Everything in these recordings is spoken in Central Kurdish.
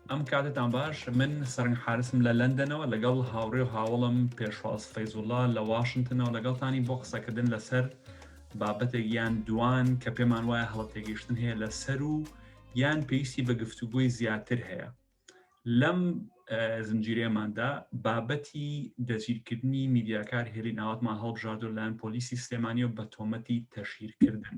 ئەم کاتتان باش من سەرنگ حارسم لە لەندەنەوە لەگەڵ هاوڕێ و هاوڵم پێشواز فەیزوڵا لە واشنتنەوە لەگەڵتانی بۆ قسەکردن لەسەر بابەتێک یان دوان کە پێمان وایە هەڵە تێگەیشتن هەیە لە سەر و یان پێویستی بە گفتوگۆی زیاتر هەیە لەم زنجیرێماندا بابەتی دەستگیرکردنی میدیاکار هێلین ئاواتمان هەڵبژاردو لایەن پۆلیسی سلێمانیەوە بە تۆمەتی تەشیرکردن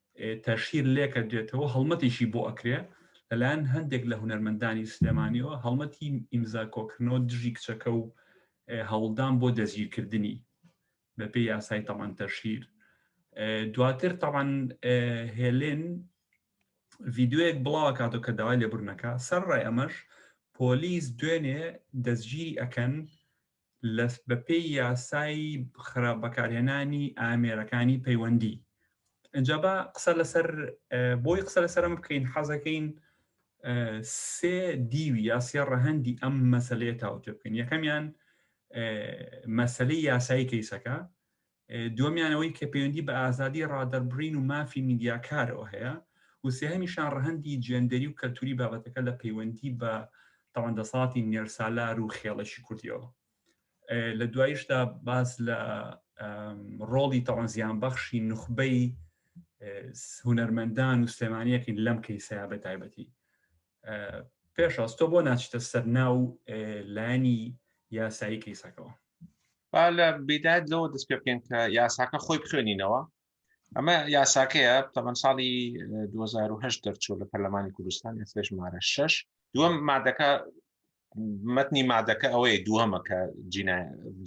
تەشهیر لێکە دێتەوە هەڵمەتێکی بۆ ئەکرێ لەلایەن هەندێک لە هونەرمەندانی سلێمانیەوە هەڵمەتی ئیمزا کۆکردنەوە دژی کچەکە و هەوڵدان بۆ دەستگیرکردنی بەپێی یاسای تەمان تەشهیر دواتر تەمان هێلێن ڤیددیوەک بڵاوە کاتۆ کە داوای لێبرنەکە سەر ڕای ئەمەش پۆلیس دوێنێ دەستگیری ئەکەن بەپێی یاسای خراپ بەکارهێنانی ئامێرەکانی پەیوەندی ئەجا با قسە لەسەر بۆی قسە لەسەرم بکەین حەزەکەین سێ دیوی یا سێ ڕەهەندی ئەم مەسلەیە تاوتێ بکەین یەکەمیان مەسلەی یاسایی کەیسەکە دووەمیان ئەوەی کە پەیوەندی بە ئازادی ڕادەربڕین و مافی میدیاکارەوە هەیە و سێهەمیشان ڕەهەندی جێندەری و کەلتوری بابەتەکە لە پەیوەندی بە تاوان دەسەڵاتی نێرسالار و خێڵەکی کوردیەوە لە دوایشدا باس لە ڕۆڵی تاوان زیان بەخشی نخبەی هونەرمەندان و سلێمانیەکەین لەم کەیسەیە بە تایبەتی پێشاز تۆ بۆ ناچیتە سەر ناو لانی یاسایی کەیسەکەەوە با لە بیدات لەوە دەست پێ بکەین کە یاساکە خۆی بخوێنینەوە ئەمە یاساکەیە تەمەەن ساڵی 2010 دەرچوو لە پەرلەمانی کوردستان ئێستش مارە شش دووەم مادەکە متنی مادەکە ئەوەیە دووەمە کە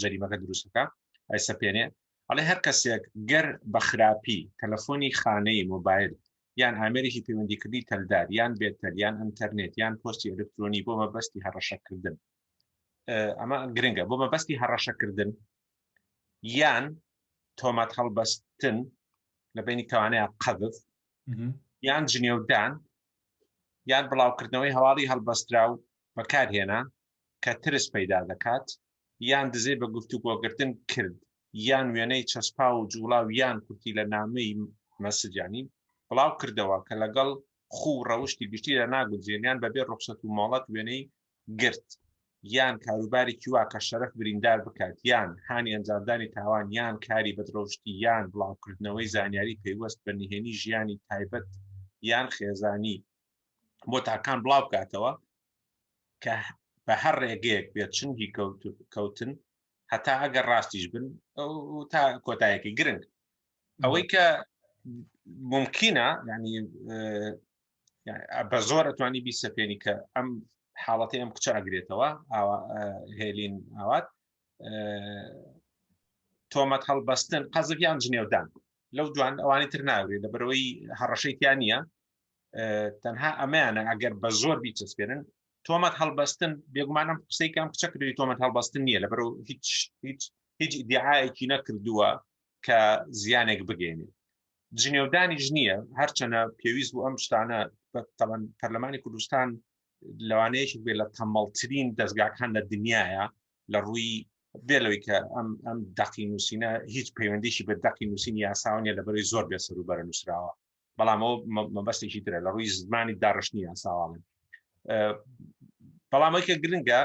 جریمەکە دروستەکە ئەی سەپێنێ ئەڵێ هەر کەسێک گەر بە خراپی تەلەفۆنی خانەی مۆبایل یان ئامێرێکی پەیوەندیکردنی تەلدار یان بێتەل یان ئەنتەرنێت یان پۆستی ئەلکترۆنی بۆ مەبەستی هەڕەشەکردن ئەمە گرنگە بۆ مەبەستی هەڕەشەکردن یان تۆمەت هەڵبەستن لە بینی کەوانەیە قەبف یان جنێودان یان بڵاوکردنەوەی هەواڵی هەڵبەسترا و بەکارهێنا کە ترس پەیدا دەکات یان دزەی بە گفتوگۆگرتن کرد یان وێنەی چەسپاو و جوڵاو یان کورتی لە نامەی مەسجانی بڵاو کردەوە کە لەگەڵ خوو و ڕەوشتی گشتی لە ناگونجێن یان بەبێ ڕوخسەت و مۆڵەت وێنەی گرت یان کاروبارێکی وا کە شەرەف بریندار بکات یان هانی ئەنجامدانی تاوان یان کاری بەدڕەوشتی یان بڵاوکردنەوەی زانیاری پەیوەست بە نهێنی ژیانی تایبەت یان خێزانی بۆ تاکان بڵاو بکاتەوە کە بە هەر ڕێگەیەک بێت چنگی کەوتن هەتا ئەگەر ڕاستیش بن تا کۆتایەکی گرنگ ئەوەی کە ممکنە ینی بە زۆر ئەتوانی بیسەپێنی کە ئەم حاڵەتی ئەم کچە ئەگرێتەوە هێلین ئاوات تۆمەت هەڵبەستن قەزف یان جنێودان لەو دوان ئەوانی تر ناوێت لە بەرەوەی هەڕەشەی تیان نیە تەنها ئەمەیانە ئەگەر بە زۆر بیچەسپێنن تۆمەت هەڵبەستن بێگومانم قسەی کەم کچە کردی تۆمەت هەڵبەستن نییە لەبەر هیچ هیچ هیچ دیعاەکی نەکردووە کە زیانێک بگەێنێ جنێودانیش نییە هەرچەنە پێویست بوو ئەم شتانە تەوان پەرلەمانی کوردستان لەوانەیەکی بێ لە تەمەڵترین دەستگاکان لە دنیاە لە ڕووی بێ لەوەی کە ئەم ئەم دەقی نووسینە هیچ پەیوەندیشی بە دەقی نووسین یاساونیە لە بەری زۆر بێ سەروبەرە نووسراوە بەڵام ئەو مەبەستێکی ترە لە ڕووی زمانی داڕشتنی یاساواڵن بەڵام ئەوکە گرنگە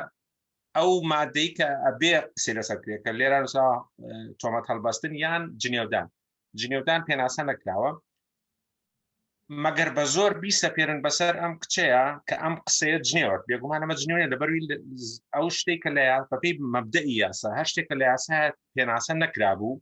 ئەو مادەی کە ئەبێ قسە لەسەر کرێکە لێرە تۆمەت هەڵبەستن یان جنێودان جنێودان پێناسە نەکراوە مەگەر بە زۆر بیسە پێرن بەسەر ئەم کچەیە کە ئەم قسەیە جنێوە بێگومان ئەمە جنێوە لە بەروی ئەو شتێک کە لە بەپی مەبدە یاسا هەر شتێک کە لە یاسا پێناسە نەکرابوو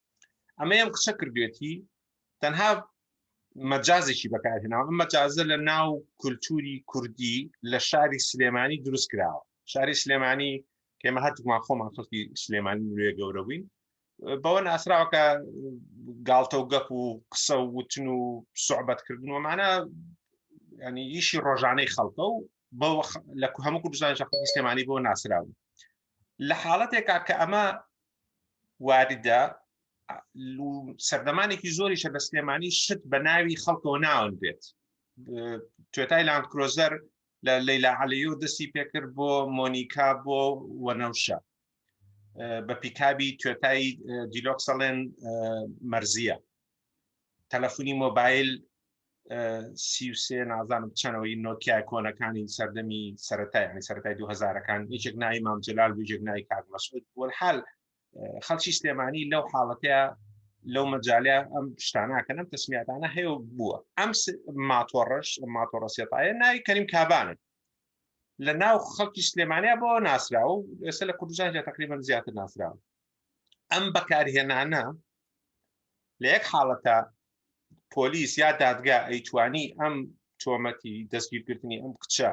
ئەمە ئەم قسە کردوێتی تەنها مەجازێکی بەکارهێناوە ئەم مەجازە لە ناو کولتوری کوردی لە شاری سلێمانی دروست کراوە شاری سلێمانی کێمە هەتومان خۆمان خەڵکی سلێمانی نوێ گەورە بووین بەوە ناسراوەکە گاڵتە و گەپ و قسە و وتن و سوعبەتکردن ومانە ینی ئیشی ڕۆژانەی خەڵکە و بە لە هەموو کوردستان شەخصی سلێمانی بۆ ناسراون لە حاڵەتێکا کە ئەمە واردە لو سەردەمانێکی زۆریشە لە سلێمانی شت بە ناوی خەڵکەوە ناون بێت توێتای لاند کرۆزەر لە لەیلا عەلیۆ دەستی پێکرد بۆ مۆنیکا بۆ وەنەوشە بە پیکابی توێتای دیلۆکسەڵێن مەرزیە تەلەفونی مۆبایل سی سێ نازانم چەنەوەی نۆکیای کۆنەکانی سەردەمی سەتای ینی سەتای دوهزارەکان یەکێک ناوی مام جلال بجێک نای کاک مەسعود وەحال خەڵکی سلێمانی لەو حاڵەتەیە لەو مەجاالە ئەم شتاناکەنم تەسمیاتانە هەیە بووە ئەم ماتۆڕش ماتۆڕە سێتاە ناوی کەریم کابانن لە ناو خەڵکی سلێمانیا بۆ ناسرا و ئێستا لە کوردستان تقریبان زیاتر ناسراوە ئەم بەکارهێنانە لە یەک حاڵەتە پۆلیس یا دادگا ئەیتوانی ئەم تۆمەتی دەستگیرکردنی ئەم کچە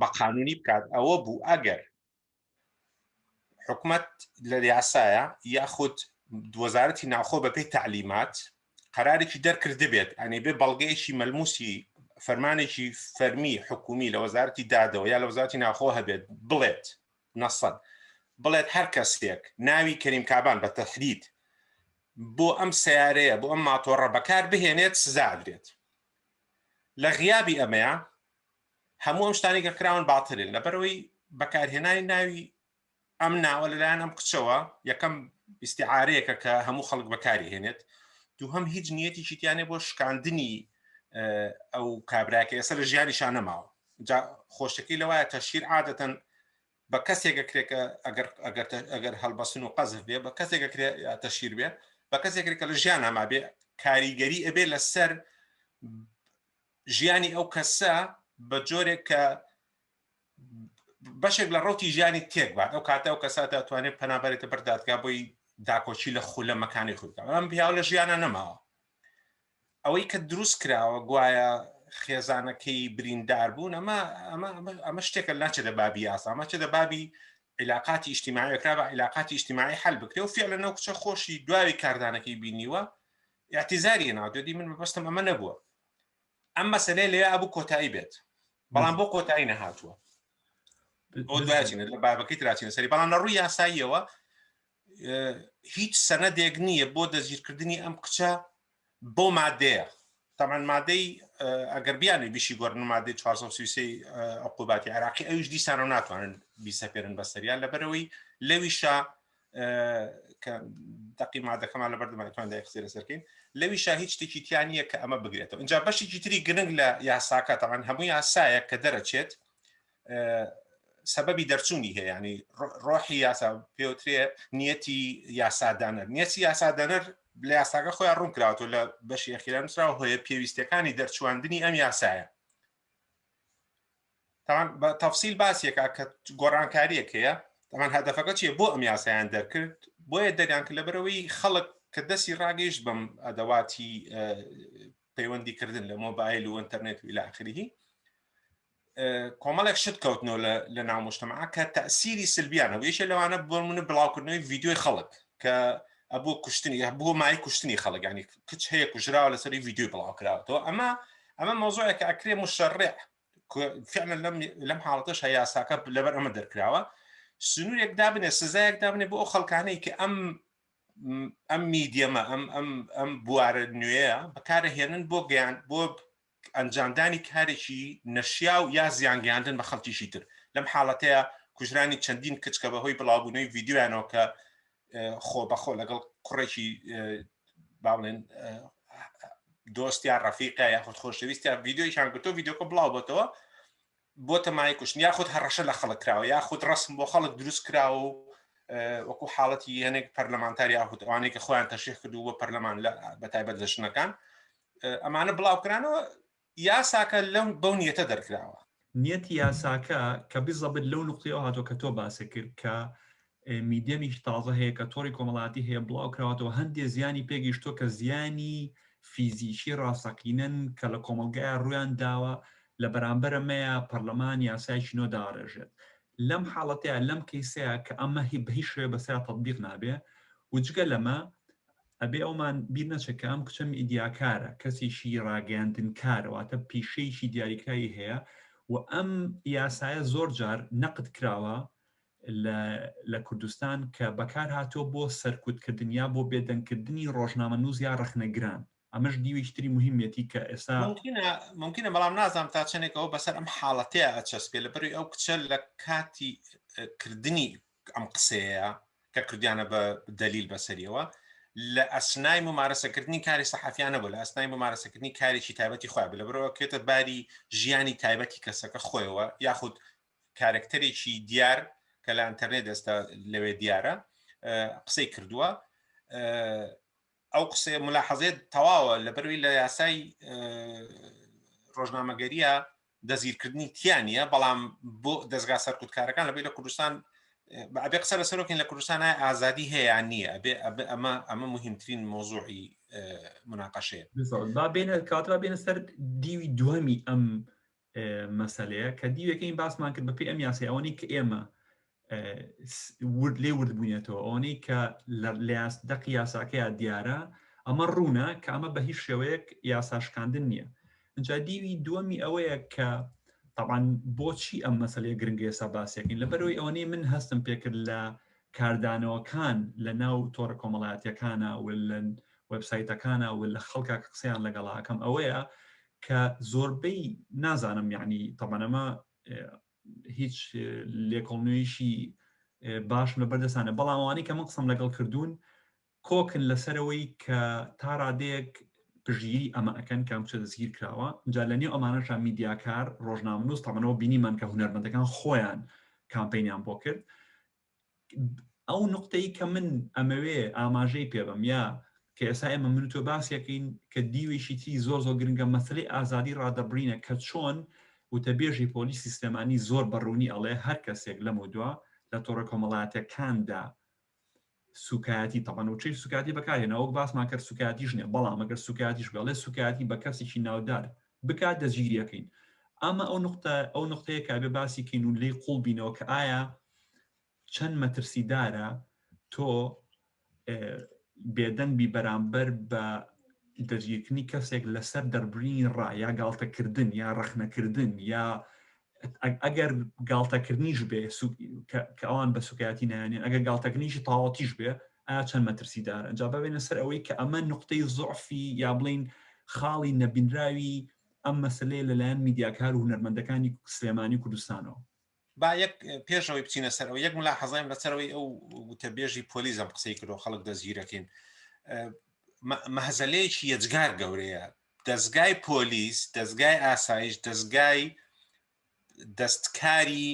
بە قانونی بکات ئەوە بوو ئەگەر حکومت لە یاسایە یاخود وەزارەتی ناوخۆ بەپی تعلیمات قرارێکی دەرکردبێت ئەنی بێ بەڵگەیەکی مەلموسی فەرمانێکی فەرمی حکومی لە وەزارتی دادەوە یا لە وەزارتی ناخۆ هەبێت بڵێت نەسەد، بڵێت هەر کەسێک ناوی کەریم کابان بە تەحدید بۆ ئەم سەیارەیە بۆ ئەم ماتۆڕە بەکار بهێنێت سزا ئەدرێت لە غیابی ئەمەیە هەموو ئەم شتانی کە کراون باترن لەبەرەوەی بەکارهێنانی ناوی ئەم ناوە لەلایەن ئەم کچەوە یەکەم ئیسیعاەیەکە کە هەموو خەڵک بەکاری هێنێت دوو هەم هیچ نیەتی شیتیانێ بۆ شکاندنی ئەو کابراکە ئێستا لە ژیانیشان نەماوە جا خۆشەکەی لەوایە تەشهیر عادەتەن بە کەسێک ئەکرێ کە ئەگەر ئەگەر ئەگەر هەڵبەستن و قەزف بێ بە کەسێک ئەکرێ یا تەشهیر بێ بە کەسێک ئەکرێ کە لە ژیان هەما بێ کاریگەری ئەبێ لەسەر ژیانی ئەو کەسە بە جۆرێک کە بەشێک لە ڕوتی ژیانی تێک بات ئەو کاتە ئەو کەسە دەتوانێت پەنابەرێتە بەر دادگا بۆی داکۆچی لە خولەمەکانی خودکە ئەم پیاو لە ژیانە نەماوە ئەوەی کە دروست کراوە گوایە خێزانەکەی بریندار بوون ئەمە ئەمە شتێکە ناچێت لە بابی یاسا ئەمە چێت لە بابی عیلاقاتی ئیشتیماعی کرا بە عیلاقاتی ئیشتیماعی حل بکرێ و فعلە نەو کچە خۆشی دواوی کاردانەکەی بینیوە اعتیزاری ناودێتی من بەبستم ئەمە نەبووە ئەم مەسلەی لێ ئەبوو کۆتایی بێت بەڵام بۆ کۆتایی نەهاتووە ئەو دوایچینە لە بابەکەی تراچینە سەری بەڵام لە ڕووی یاساییەوە هیچ سەنەدێک نییە بۆ دەستگیرکردنی ئەم کچە بەو مادەیە تەمان مادەی ئەگەر بیانێ بیشی گۆرن مادەی 1970 عقوباتی عراقی ئەوش دیسان و ناتوانن بیسەپێرن بەسەریان لەبەرەوەی لەویشە کە دقی مادەکەمان لە بەردەمانتوان دایخسی لەسەرکەین لەویشە هیچ شتێکی تیانە کە ئەمە بگرێتەوە اینجا بەشێکی تری گرنگ لە یاساکە تەمان هەموو یاسایە کە دەرەچێت سەبەبی دەرچوونی هەیە ینی ڕۆحی یاسا پێوترێ نیەتی یاسادانەر نیەتی یاسادانەر لە یاساگە خۆیان ڕوون کراوەوە لە بەشی ئەخیرا نووسراوە هۆیە پێویستەکانی دەرچواندنی ئەم یاسایە تاوان بە تەفسیل باسیەکە کە گۆڕانکاریەک هەیە تامان هەدەفەکە چیە بۆ ئەم یاسایان دەرکرد بۆیە دەگان کە لەبەرەوەی خەڵک کە دەستی ڕاگەیشت بەم ئەدەواتی پەیوەندی کردن لە مۆبایل و ئەتەرنێت و لاخریهی کۆمەڵێک شت کەوتنەوە لە ناو مشتمەعە کە تەسیری سلبیان هەبوو یەکێ لەوانە بۆمنە بڵاوکردنەوەی ڤیددیوی خەڵک کە ئەبوو کوشتنی بۆ مای کوشتنی خەڵگانی کچ هەیە کوژراوە لەسەری ڤیددیوی بڵاوکراوەوە ئەمە ئەمە مۆزۆیەکە ئەکرێ مشەڕێ فعلا لەم لەم حاڵەتەش هە یاساکە لەبەر ئەمە دەرکراوە سنوورێک دابنێ سزایەک دابنێ بۆ ئەو خەڵکانەی کە ئەم ئەم میدیەمە ئەم ئەم ئەم بوارە نوێە بەکارە هێنن بۆ گەیان بۆ ئەنجامدانی کارێکی نەشیاو یا زیانگەیاندن بە خەڵکیی تر، لەم حاڵەتەیا کوژرانی چەندین کچ کە بەهۆی بڵاوبوونەوەی ڤیدیۆیانەوە کە خۆبەخۆ لەگەڵ کوڕێکی با بڵێن دۆست یا ڕەفیقە یاخود خۆشەویستیان ڤیدیۆیشان گرتووە، ڤیدیۆکە بڵاوبۆتەوە، بۆ تەمای کوشتن یاخود هەڕەشە لە خەڵک کراوە یاخود ڕسم بۆ خەڵک دروست کراوە و وەکو حاڵەتی هەنێک پەرلەمانتار یاخود ئەوانەی کە خۆیان تەشیح کردو بە پەرلەمان لە بەتایبەت لە ژنەکان ئەمانە بڵاوکرانەوە یاساکە لەم بەو نیەتە دەرکراوە نیەتی یاساکە کە بزەبت لەو نقطەوە هاتۆ کە تۆ باسە کرد کە میدیەمیکی تازە هەیە کە تۆڕی کۆمەڵاتی هەیە بڵاوکراوەتەوە هەندێ زیانی پێگەیشتوە کە زیانی فیزیکی ڕاستەقینەن کە لە کۆمەڵگایە ڕویان داوە لە بەرامبەرە مەیە پەرلەمان یاسایکی نۆ داڕێژێت لەم حاڵەتەیە لەم کەیسەیە کە ئەمە هی بەهی شوێ بەسرا تطببیق نابێ وجگە لەمە ئەبێ ئەومان بیر نەچەکە ئەم کچە میدیاکارە کەسێکی ڕاگەاندن کارەواتە پیشەیەکی دیاریکراوی هەیە و ئەم یاسایە زۆر جار نەقد کراوە لە کوردستان کە بەکارهاتووە بۆ سەرکوتکردن یا بۆ بێدەنگکردنی ڕۆژنامەنووس یا ڕەخنەگران، ئەمەش دیوێکی تری موهیمەتی کە ئێستا. مومکینە، مومکینە، بەڵام نازانم تا چەندێک ئەوە بەسەر ئەم حاڵەتەیا ئەچەسپێ، لەبەروی ئەو کچە لە کاتی کردنی ئەم قسەیەیا کە کردویانە بە دەلیل بەسەریەوە، لە ئەسنای مومارەسەکردنی کاری سەحەفیان نەبوو، لە ئەسنای مومارەسەکردنی کارێکی تایبەتی خۆیان بوو، لەبەرئەوە کەوێتە باری ژیانی تایبەتی کەسەکە خۆیەوە یاخود کارەکتەرێکی دیار کە لە ئەنتەرنێت ئێستا لەوێ دیارە قسەی کردووە ئەو قسەیە ملاحەزێت تەواوە لە بەروی لە یاسای ڕۆژنامەگەریە دەزیرکردنی تیانە بەڵام بۆ دەستگا سەرکوتکارەکان لەبێ لە کوردستان ئەبێ قسە لە سەرۆکین لە کوردستانە ئازادی هەیە نییە ئەبێ ئەمە ئەمە مهمترین مۆزوعی مناقەشەیە با بێنە کاترا بێنە سەر دیوی دووەمی ئەم مەسەلەیە کە دیوێکە این باسمان کرد بەپی ئەم یاسای ئەوەنی کە ئێمە ورد لێ ورد بووینێتەوە ئەوەنەی کە لەاس دەقی یاساکەیا دیارە ئەمە ڕوونە کە ئەمە بە هیچ شێوەیەک یاساشکاندن نییە ئەجا دیوی دووەمی ئەوەیە کە طبعاً بۆچی ئەم مەسلەیە گرنگی ئێستا باسیەکەین لەبەرەوەی ئەوەنەی من هەستم پێکرد لە کاردانەوەکان لە ناو تۆڕە کۆمەڵاتیەکانە ولەن وبسایتەکانە و لە خەڵکە قسەیان لەگەڵاکەم ئەوەیە کە زۆربەی نازانم یعنی تەبەن ئەمە هیچ لێکۆڵنوێیشی باشم لە بەردەسانە بەڵام ئەوانەی کە من قسم لەگەڵ کردوون کۆکن لەسەرەوەی کە تا ڕادەیەک پژیری ئەمە ئەەکەن کام چە دەستگیر کراوە جا لە نێو ئەمانەشان میدیاکار ڕۆژنامنووس تەمەەوە بینیمان کە هوەرمەندەکان خۆیان کامپینیان بۆ کرد ئەو نقطەی کە من ئەمەوێ ئاماژەی پێبم یا کە ئێسا ئێمە من تۆ باسیەکەین کە دیوێکی تری زۆر زۆر گرنگە مەسلەی ئازادی ڕادەبرینە کە چۆن وتەبێژی پۆلی سیستەمانی زۆر بەڕوونی ئەڵێ هەر کەسێک لەم و دوا لە تۆڕە کۆمەڵاتەکاندا سوکایەتی تەبان و چی سوکاتی بەکارێنەوەک باسمان کرد سوکاتیش نیە بەڵام ئەگەر سوکاتیش بڵێ سوکاتی بە کەسێکی ناودار بکات دەستگیری ئەکەین ئەمە ئەو نقطە ئەو نقطەیە کە ئەبێ باسی کەین و لێی قوڵ بینەوە کە ئایا چەند مەترسیدارە تۆ بێدەنگ بی بەرامبەر بە دەستگیرکردنی کەسێک لەسەر دەربرینی ڕا یا گاڵتەکردن یا ڕەخنەکردن یا ئەگەر گاڵتەکردنیش بێ کە ئەوان بە سوکایەتی نایانێن ئەگەر گاڵتەکردنیشی تاوەتیش بێ ئایا چەند مەترسی دار ئەجا ببێنە سەر ئەوەی کە ئەمە نقطەی زعفی یا بڵین خاڵی نەبینراوی ئەم مەسلەیە لەلایەن میدیاکار و هونەرمەندەکانی سلێمانی کوردستانەوە با یەک پێشەوەی بچینە سەر ئەو یەک ملا حەزایم لەسەرەوەی ئەو وتەبێژی پۆلیزم قسەی کردو خەڵک دەستگیرەکەین مەهزەلەیەکی یەجگار گەورەیە دەزگای پۆلیس، دەزگای ئاسایش، دەزگای دەستکاری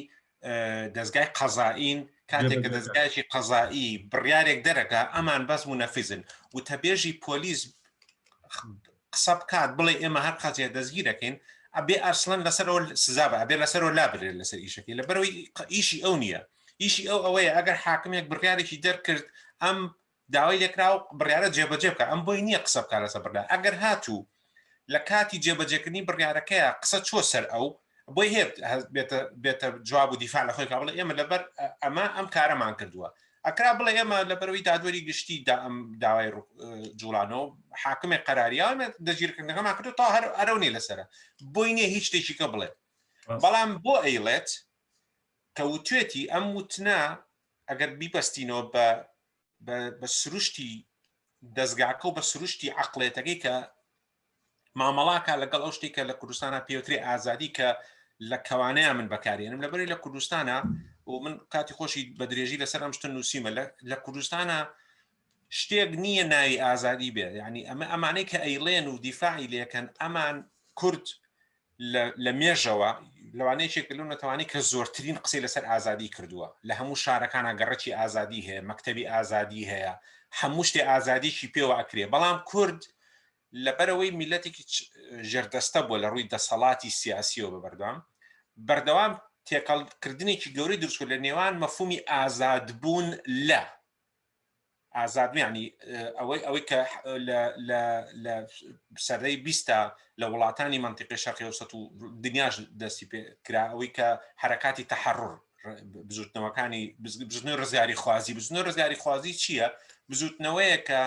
دەزگای قەزائین، کاتێک کە دەزگایکی قەزایی بڕیارێک دەرەکە ئەمان بەس منەفیزن وتەبێژی پۆلیس قسە بکات بڵێ ئێمە هەر قەزیە دەستگیرەکەین ئەبێ ئەسلەن لەسەر ئەو سزا بە ئەبێ لەسەر و لابرێت لەسەر ئیشەکەی لە بەرەوەی ئیشی ئەو نییە ئیشی ئەو ئەوەیە ئەگەر حاکمێک بڕیارێکی دەرکرد ئەم داوای لێکراو بڕیارە جێبەجێ بکات، ئەم بۆی نییە قسە بکات لەسەر بڕیار، ئەگەر هاتوو لە کاتی جێبەجێکردنی بڕیارەکەیا قسە چووە سەر ئەو، بۆی هەیە بێتە بێتە جواب و دیفاع لە خۆی بکات، بڵێ ئێمە لەبەر ئەمە ئەم کارەمان کردووە. ئەکرا بڵێ ئێمە لەبەرەوەی دادوەری گشتی دا ئەم داوای جوڵانەوە حاکمێک قەراریانە دەگیرکردنەکەمان کردو تا هەر ئەرەو نیە لەسرە بۆی نییە هیچ شتێکیکە بڵێ بەڵام بۆ ئەیڵێت کە وتێتی ئەم وتنا ئەگەر بیبەستینەوە بە بە سروشتی دەستگاکە و بە سروشتی عقلێتەکەی کە مامەڵاکە لەگەڵ ئەو شتێکە لە کوردستانە پێوتری ئازادی کە لە کەوانەیە من بەکارێنم لەبەری لە کوردستانە و من کاتی خۆشی بە درێژی لەسەر ئەم شتن نووسیمە لە کوردستانە شتێک نییە ناوی ئازادی بێ ینی ئەمە ئەمانەی کە ئەیڵێن و دیفاعی لەکەن ئەمان کورد لە مێژەوە لەوانەیە چێک لەو نەتەوانی کە زۆرترین قسەی لەسەر ئازادی کردووە لە هەموو شارەکانە گەڕکی ئازادی هەیە مەکتتەبی ئازادی هەیە هەموو شتێ ئازادیکی پێوە ئەکرێ بەڵام کورد لەبەرەوەی میلەتێکی ژێردەستە بووە لە ڕووی دەسەڵاتی سیاسیەوە بە بەردەوام بەردەوام تێکەڵکردنێکی گەورەی دروستکرد لە نێوان مەفومی ئازادبوون لە ئازاد یانی ئەوەی ئەوەی کە لە سەرەی بیستە لە وڵاتانی منتیقی شەقیوسەت و دنیاش دەستی پێ کرا ئەوەی کە حرکاتی تحرڕ بزوتنەوەکانی بزنی ڕزیاری خوازی بزنە ڕزیاری خوازی چییە بزوتنەوەیە کە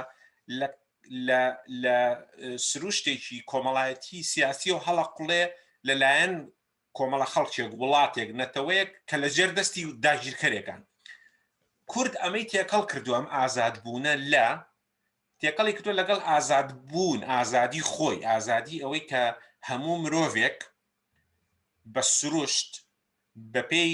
لە سروشتێکی کۆمەڵایەتی سیاسی و هەڵقلێ لەلایەن کۆمەڵە خەڵکێک، وڵاتێک، نەتەوەیەک کە لە ژێر دەستی داگیرکەرێکان. کورد ئەمەی تێکەڵ کردووە، ئەم ئازادبوونە لە تێکەڵی کردووە لەگەڵ ئازادبوون، ئازادی خۆی، ئازادی ئەوەی کە هەموو مرۆڤێک بە سروشت بەپێی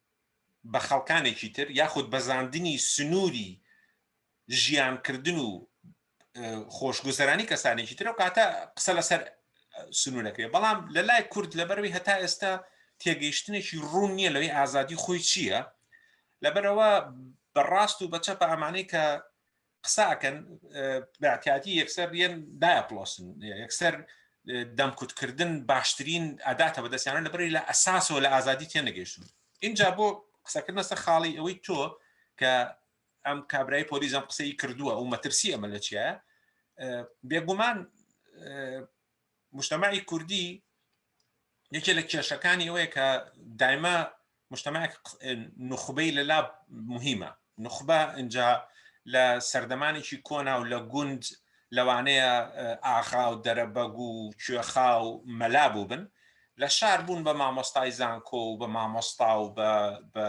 بە خەڵکانێکی تر یاخود بەزاندنی سنووری ژیانکردن و خۆشگوزەرانی کەسانێکی ترە و کاتە قسە لەسەر سنوورەکەی بەڵام لە لای کورد لەبەروی هەتا ئێستا تێگەیشتنێکی ڕوون نییە لەوەی ئازادی خۆی چییە لەبەرەوە بەڕاست و بەچەپە ئەمانەی کە قسە ئەکەن بەعتیاتی یەکسەر یەن دایپلۆسن یەکسەر دەمکوتکردن باشترین ئەداتە بەدەستیانە لە بەری لە ئەساسەوە لە ئازادی تێنەگەیشتون اینجا بۆ قسەکردنە سە خاڵی ئەوەی تۆ کە ئەم کابرای پۆلیزم قسەی کردووە و مەترسی ئەمە لە چیە بێگومان مجتەمەعی کوردی یەکێ لە کێشەکانی ئەوەیە کە دایمە مجتەمەعێک نوخبەی لەلا مهمە نوخبە ئینجا لە سەردەمانێکی کۆنا و لە گوند لەوانەیە ئاغا و دەرەبەگ و کوێخا و مەلا بوو بن لە شار بوون بە مامۆستای زانکۆ و بە مامۆستا و بە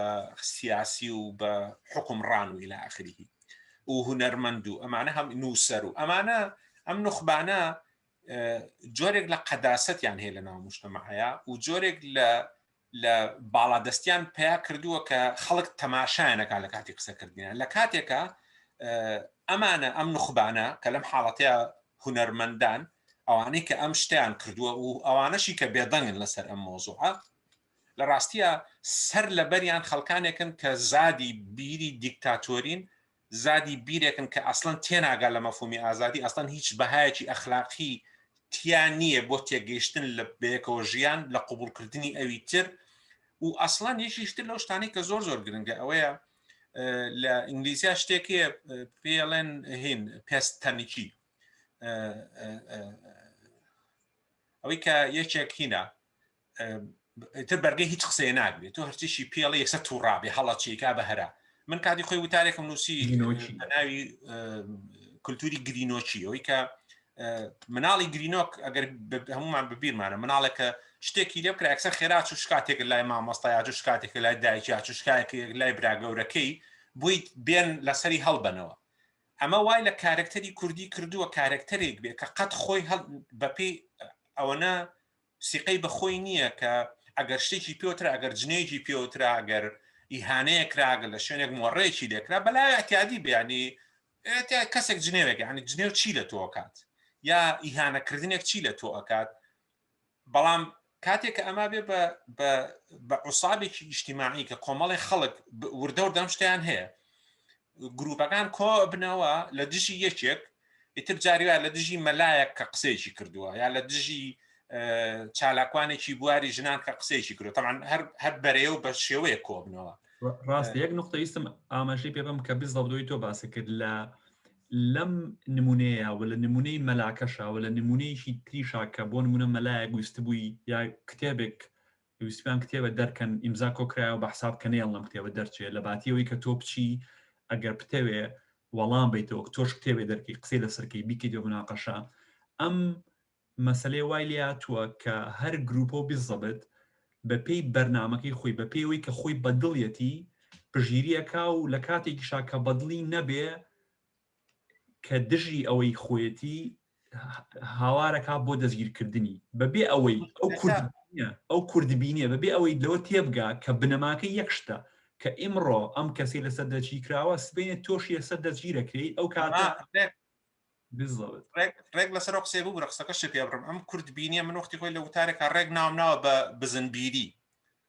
سیاسی و بە حکومڕان و لە ئاخریی و هوەرمەند و ئەمانە هەم نووسەر و ئەمانە ئەم نوخبانە جۆرێک لە قەداسەتیان هەیە لە ناو مشتمەعەیە و جۆرێک لە لە باڵادەستیان پیا کردووە کە خەڵک تەماشایانەکە لە کاتی قسەکردیان لە کاتێکە ئەمانە ئەم نخبانە کە لەم حاڵەتەیە هوەرمەندان ئەوانەی کە ئەم شتیان کردووە و ئەوانەشی کە بێدەنگن لەسەر ئەم مۆزوعە لە ڕاستیە سەر لەبەریان خەڵکانێکن کە زادی بیری دیکتاتۆرین زادی بیرێکن کە ئەسڵەن تێناگا لە مەفهومی ئازادی، ئەسڵەن هیچ بەهایەکی ئەخلاقی تیا نییە بۆ تێگەیشتن لە بەیەکەوە ژیان، لە قبوڵکردنی ئەوی تر و ئەسڵەن یەکیش تر لەو شتانەی کە زۆر زۆر گرنگە ئەوەیە لە ئینگلیزیا شتێکێ پێڵێن هین پێست تەنکی ئەوەی کە یەکێک هینە تر بەرگەی هیچ قسەیە ناگرێت تۆ هەرچیشی پێڵە یەکسە تووڕابێ هەڵە چێکا بە هەرا من کاتی خۆی وتارێکم نووسی ناوی کللتوری گرینۆچی ئەوی کە مناڵی گرینۆک ئەگەر هەمومان ببیرمانە مناڵێکە شتێکی لێ بکرا ئەکسەر خێرا چ شکاتێک لای مامۆستایاج و شکاتێک لای دایکی چ شکایەک لای براگەورەکەی بووی بێن لەسەری هەڵبەنەوە ئەمە وای لە کارکتەری کوردی کردووە کارکتەرێک بێ کە قەت خۆی بەپی ئەوەنە سیقەی بە خۆی نییە کە ئەگەر شتێکی پێوترا، ئەگەر جنێوێکی پێوترا، ئەگەر ئیهانەیەک کرا، ئەگەر لە شوێنێک مۆڕەیەکی لێ کرا، بە لای ئەتیادی بێ یانی ئێتیا کەسێک جنێوێک یانی جنێو چی لە تۆ ئەکات یا ئیهانەکردنێک چی لە تۆ ئەکات، بەڵام کاتێک کە ئەما بێ بە بە بە عوسابێکی ئیشتیماعی کە کۆمەڵی خەڵک وردە وردە ئەم شتیان هەیە گروپەکان کۆ بنەوە لە دژی یەکێک ئیتر جاری وایە لە دژی مەلایەک کە قسەیەکی کردووە یا لە دژی چالاکوانێکی بواری ژنان کە قسەیەکی کرد تەمان هەر بەرەیە و بە شێوەیە کۆبنەوە ڕاست یەک نقطە ویستم ئاماژەی پێ بم کە بزەبدۆی تۆ باسی کرد لە لەم نمونەیە و لە نمونەی مەلاکەشە و لە نمونەیەکی تریشا کە بۆ نمونە مەلایە گویست بووی یا کتێبێک پێویستمان کتێبە دەرکەن ئیمزا کۆکرایەوە بە حساب کە نەیەڵنم کتێبە دەرچێ لە باتی ئەوەی کە تۆ بچی ئەگەر بتەوێ وەڵام بەیتەوە کە تۆش کتێبێ دەرکەی قسەی لەسەرکەی بیکەیت بە مناقەشە ئەم مەسەلەی وای لێ هاتووە کە هەر گروپە و بیزەبت بە پێی بەرنمەکەی خۆی بە پێوەی کە خۆی بەدڵیەتی پژیریەکە و لە کاتێکیشا کە بەدڵی نەبێ کە دژی ئەوەی خۆیەتی هاوارەکە بۆ دەستگیرکردنی بەبێ ئەوەی ئەو کورد ئەو کوردبینێ بەبێ ئەوەی لەوە تێبگا کە بنەماکە یەک شتە کە ئیمڕۆ ئەم کەسی لەسەر دەچی کراوە سبێنێ تۆشی لەسەر دەستگیرەکرێت ئەو کاتە ڕێک لەسەر قسێ بوو ڕقسەکە شێ پێ بڕم ئەم کورد بینیە من وەختی خۆی لە وتارێکە ڕێک ناوم ناوە بە بزنبیری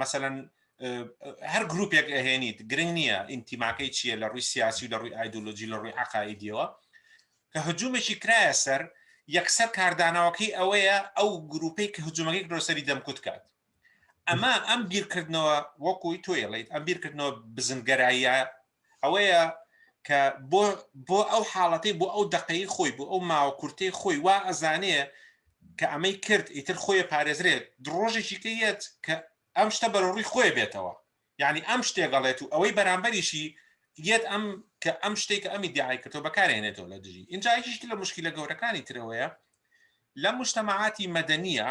مەسەلەن هەر گروپێک ئەهێنیت گرنگ نییە ئینتیماکەی چییە لە ڕووی سیاسی و لە ڕووی ئایدۆلۆژی لە ڕووی عقاعدیەوە کە هجوومێکی کرایە سەر یەکسەر کاردانەوەکەی ئەوەیە ئەو گروپەی کە هجوومەکەی درۆسەری دەمکوت کات ئەمە ئەم بیرکردنەوە وەکوی تۆیڵیت ئەم بیرکردنەوە بزنگەراییە ئەوەیە کە بۆ بۆ ئەو حاڵەتی بۆ ئەو دقەی خۆی بۆ ئەو ماوە کورتی خۆی وا ئەزانێ کە ئەمەی کرد ئیتر خۆی پارێزرێت درۆژێکی کە یەت کە ئەم شتە بەرەڕووی خۆی بێتەوە یعنی ئەم شتێگەڵێت و ئەوەی بەرامبەریشی یەت ئەم کە ئەم شتێک کە ئەمی دیعای کردەوە بەکارێنێتەوە لە دژی اینجا یشت لە مشکلە گەورەکانی ترەوەیە لە مشتەمەعاتی مەدەنیە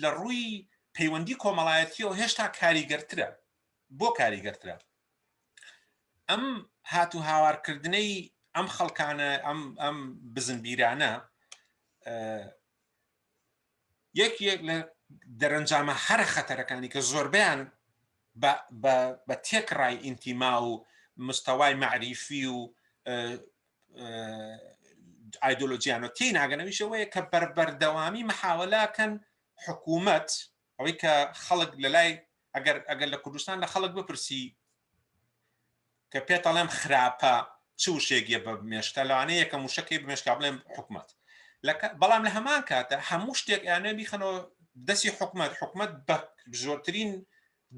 لە ڕووی پەیوەندی کۆمەڵایەتیەوە هێشتا کاریگەرترە بۆ کاریگەرترە ئەم هات و هاوارکردنەی ئەم خەڵکانە ئەم ئەم بزنبیرانە یەک یەک لە دەرەنجامە هەرە خەتەرەکانی کە زۆربیان بە تێکڕای ئینتیما و مستەوای معریفی و ئایدۆلۆژیانە تێ ناگەنەویشەوەیە کە بەربەردەوامی محاولاکەن حکوومەت ئەوەی کە خەڵک لە لای ئەگەر ئەگەر لە کوردستان لە خەڵک بپرسی کە پێتەڵێم خراپە چ وشێکە بە مێشکە لەوانەیە یەکە موشەکەی بمێشکا بڵێم حکوومەت بەڵام لە هەمان کاتە هەموو شتێک یانە بیخەنەوە دەستی حکوومەت حکوومەت بە زۆرترین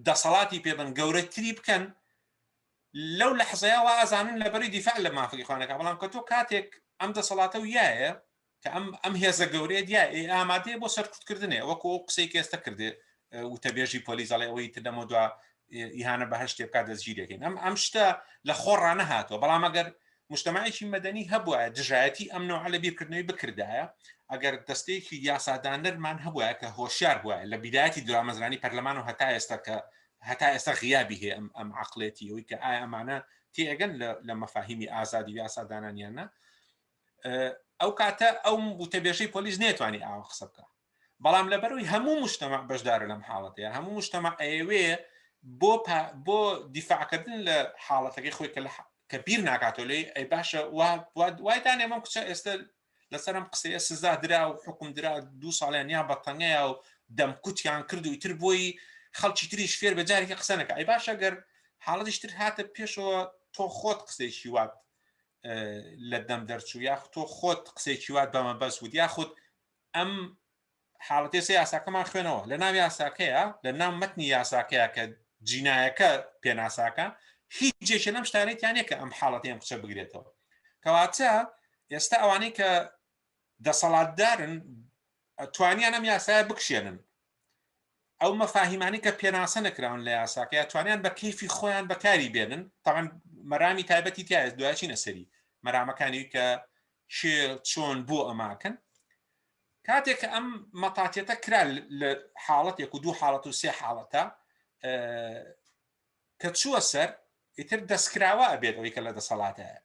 دەسەڵاتی پێبن گەورەتری بکەن لەو لەحزەیا وا ئەزانن لەبەری دیفاع لە مافەک ئیخوان ئەکا بەڵام کە تۆ کاتێک ئەم دەسەڵاتە و یایە کە ئەم ئەم هێزە گەورەیە دیا ئێ ئامادەیە بۆ سەرکوت کردنێ وەکو ئەو قسەی کە ئێستا کردێ وتەبێژی پۆلیس دەڵێ ئەوەی تر لەمە دوا ئیهانە بە هەشتێ بکات دەستگیرێکین ئەم ئەم شتە لە خۆڕانە هاتووە بەڵام ئەگەر مشتمەعێکی مەدەنی هەبووە دژایەتی ئەم نەوە لە بیرکردنەوەی بکردایە ئەگەر دەستەیەکی یاسادانەرمان هەبووە کە هۆشیار بووە لە بیداەتی درامەزرانی پەرلەمان و هەتا ئێستا کە هەتا ئێستا غیابی هەیە ئەم ئەم عقلێتی ئەوی کە ئایا ئەمانە تێگەن لە مەفاهیمی ئازادی یاسادانانیانە ئەو کاتە ئەو وتەبێژەی پۆلیس نێتوانی ئاوە قسە بکە بەڵام لەبەروی هەموو مشتەمە بەشدارە لەم حاڵەتەیە هەموو مشتەمە ئەوێ بۆ بۆ دیفاعکردن لە حاڵەتەکەی خۆی کە کە بیر ناکاتۆ لێ ئەی باشە وای دانێمەم کچە ئێستا لەسەر ئەم قسەیە سزا درا و حکم درا دوو ساڵیان یان بە تەنگەیە و دەمکوتیان کرد و ئیتر بۆی خەڵکی تریش فێر بە جارێکی قسە نەکە ئەی باشە گەر حاڵەتیش تر هاتە پێشەوە تۆ خۆت قسەیشی وات لە دەم دەرچوو یاخ تۆ خۆت قسەیکی وات بەمە بەس وت یاخود ئەم حاڵەتێ سێ یاساکەمان خوێنەوە لە ناو یاساکەیە لە ناو مەتنی یاساکەیە کە جینایەکە پێناساکە هیچ جێکە لەم شتانێتیانە کە ئەم حاڵەتیان قچە بگرێتەوە کەواتە ئێستا ئەوانەی کە دەسەڵاتدارن توانیان ئەم یاسایە بکشێنن ئەو مەفاهیمانی کە پێناسە نەکراون لە یاساکە توانیان بە کەیفی خۆیان بەکاری بێنن تاوان مەرامی تایبەتی تایە دوایچینە سەری مەرامەکانی کە چۆن بۆ ئەماکەن کاتێک کە ئەم مەتاتیەتە کرا لە حاڵەتێک و دوو حاڵەت و سێ حاڵەتە کە چووە سەر ئیتر دەستکراوە ئەبێت ئەوی کە لە دەسەڵاتەیە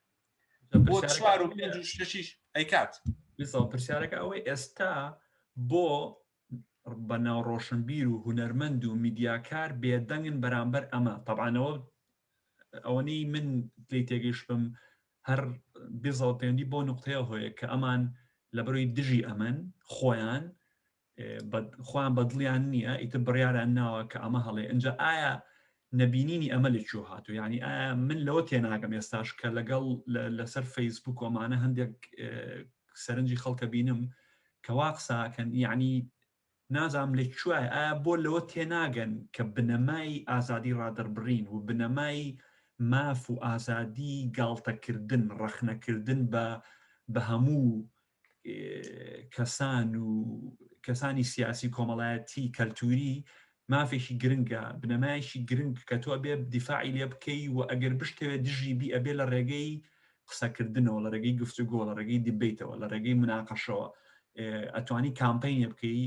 بۆ چوار و پێنج و شەشیش ئەیکات پرسیارەکە ئەوەی ئێستا بۆ بەناو ڕۆشنبیر و هوەرمەند و میدیاکار بێدەنگن بەرامبەر ئەمە تەبانەوە ئەوەنەی من لی تێگەیشتبم هەر بیزەڵ پەیوەندی بۆ نقطەیە هۆیە کە ئەمان لەبەروی دژی ئەمەن خۆیان خۆیان بەدڵیان نییە ئیتە بڕیاران ناوە کە ئەمە هەڵێ ئەجا ئایا نەبینینی ئەمە لەکوێ هاتو ینی ئایا من لەوە تێناگەم ئێستاش کە لەگەڵ لەسەر فەیسبوک کۆمانە هەندێک سەرنجی خەڵکە بینم کەوا قساکەن یعنی نازانم لە کوای ئایا بۆ لەوە تێناگەن کە بنەمای ئازادی ڕادەربڕین و بنەمای ماف و ئازادی گاڵتەکردن ڕەخنەکردن بە بە هەموو کەسان و کەسانی سیاسی کۆمەڵایەتی کەلتوری مافێکی گرنگە بنەمایشی گرنگ کە تۆ بێ دیفاعی لێ بکەی و ئەگەر بشتەوێت دژی بی ئەبێ لە ڕێگەی قسەکردنەوە لە ڕێگەی گفتوگۆ لە ڕێگەی دیبیتەوە لە ڕێگەی مناقەشەوە ئەتوانی کامپینە بکەی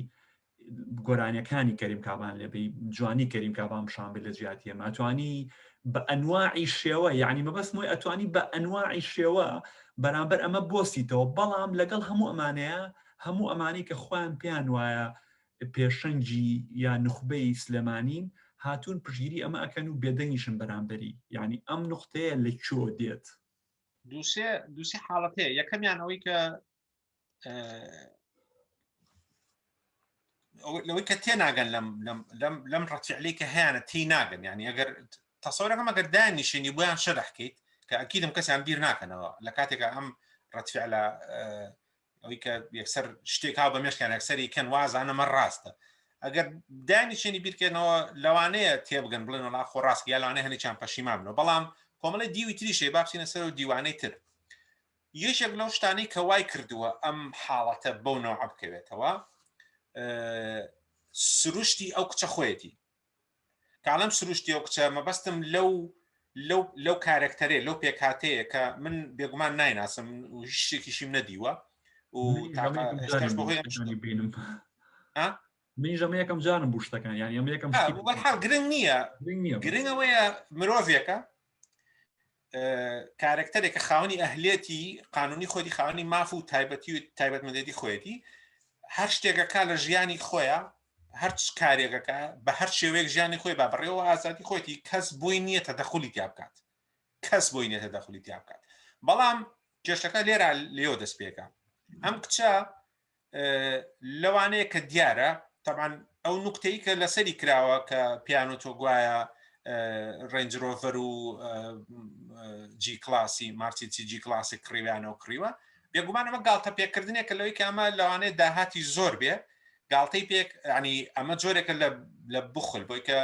گۆرانیەکانی کەریم کابان لەبی جوانی کەریم کابان پیشان بێت لە جیاتی ئەمە ئەتوانی بە ئەنواعی شێوە یعنی مەبەست مۆی ئەتوانی بە ئەنواعی شێوە بەرامبەر ئەمە بۆسیتەوە بەڵام لەگەڵ هەموو ئەمانەیە هەموو ئەمانی کە خۆیان پێیان وایە پێشەنگی یا نوخبەی سلێمانین هاتوون پشگیری ئەمە ئەکەن و بێدەنگیشن بەرامبەری یعنی ئەم نقطەیە لە چۆ دێت دووسێ دووسی حاڵەت هەیە یەکەمیان ئەوەی کە لەوەی کە تێ ناگەن لەم لەم لەم ڕەتیعلی کە هەیەە تی ناگەن ینی ئەگەر تەسەورەکەم ئەگەر دایان نیشێنی بۆیان شەرحکەیت کە ئەکیدم کەسیان بیر ناکەنەوە لە کاتێکە ئەم ڕەتفعلە ئەوی کە یەکسەر شتێک هاو بە مێشکیان یەکسەری کەن وازانەمە ڕاستە ئەگەر دانی چێنی بیرکەنەوە لەوانەیە تێبگەن بڵێن وڵا خۆ ڕاست یا لەوانە هەنێکیان پەشیمان بنەوە بەڵام کۆمەڵی دیوی تریشێ بابچینە سەر و دیوانەی تر یەکێک لەو شتانەی کە وای کردووە ئەم حاڵەتە بەو نەوە بکەوێتەوە سروشتی ئەو کچە خۆیەتی کاڵم سروشتی و کچە مەبەستم لەو لەو لەو کارەکتەرێ لەو پێکاتەیە کە من بێگومان نایناسم شتێکیشیم نەدیوە بینم من ژەمە یەکەم جانم بوو شتەکان یان ئەمە یەکەم گرنگ نییە گرنگەوەیە مرۆڤێکە کارکتەرێکە خاوەنی ئەهلێتی قانونی خۆی خاوەنی ماف و تایبەتی و تایبەت مندێتی خۆیەتی هەر شتێکەکە لە ژیانی خۆیە هەرچ کارێکەکە بە هەر شێوەیەک ژیانی خۆی با بڕێەوە ئازادی خۆیتی کەس بۆی نییە تە دەخلی تیا بکات کەس بۆی نیە دەخلی تیا بکات بەڵام کێشەکە لێرا لێو دەست پێکە ئەم کچە لەوانەیە کە دیارە تەبان ئەو نوکتەی کە لەسەری کراوە کە پیانۆ تۆ گوایە ڕێنجرۆڤەر و جی کلاسی مارتیسی جی کلاسی کڕیویانە و کڕیوە بێگومان ئەمە گاڵتە پێکردنێک کە لەوەی کامە لەوانەیە داهاتی زۆر بێ گاڵتەی پێک ینی ئەمە جۆرێکە لە بخل بۆی کە